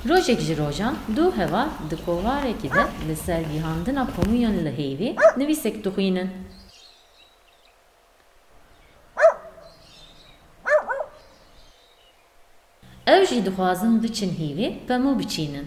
Rojek ji rojan du heval di kovarekî de li ser gihandina komûyan li heyvê nivîsek dixwînin. Ew jî dixwazin biçin hîvê pemû biçînin.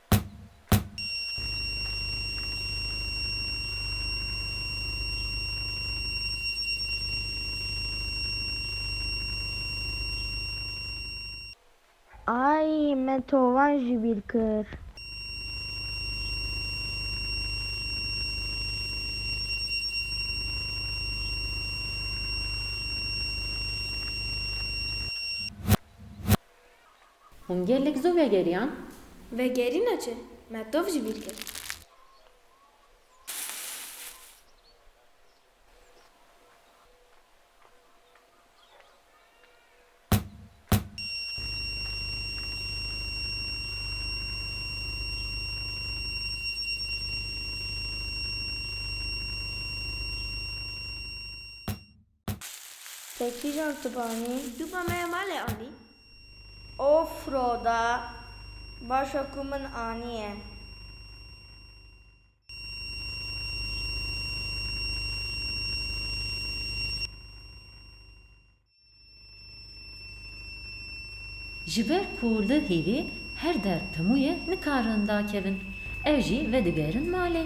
Ay me tovan jî bîr kir. Hûn gelek zû vegeriyan. Vegerîna çi? Me tov ji bîr kir. Te kîjan tibanî? Tu ba me ya malê anî? Of Roda, baş e ku min aniye. Ji ber ku li hêvê her der pemûye nikarin dakevin, ev jî vedigerin malê.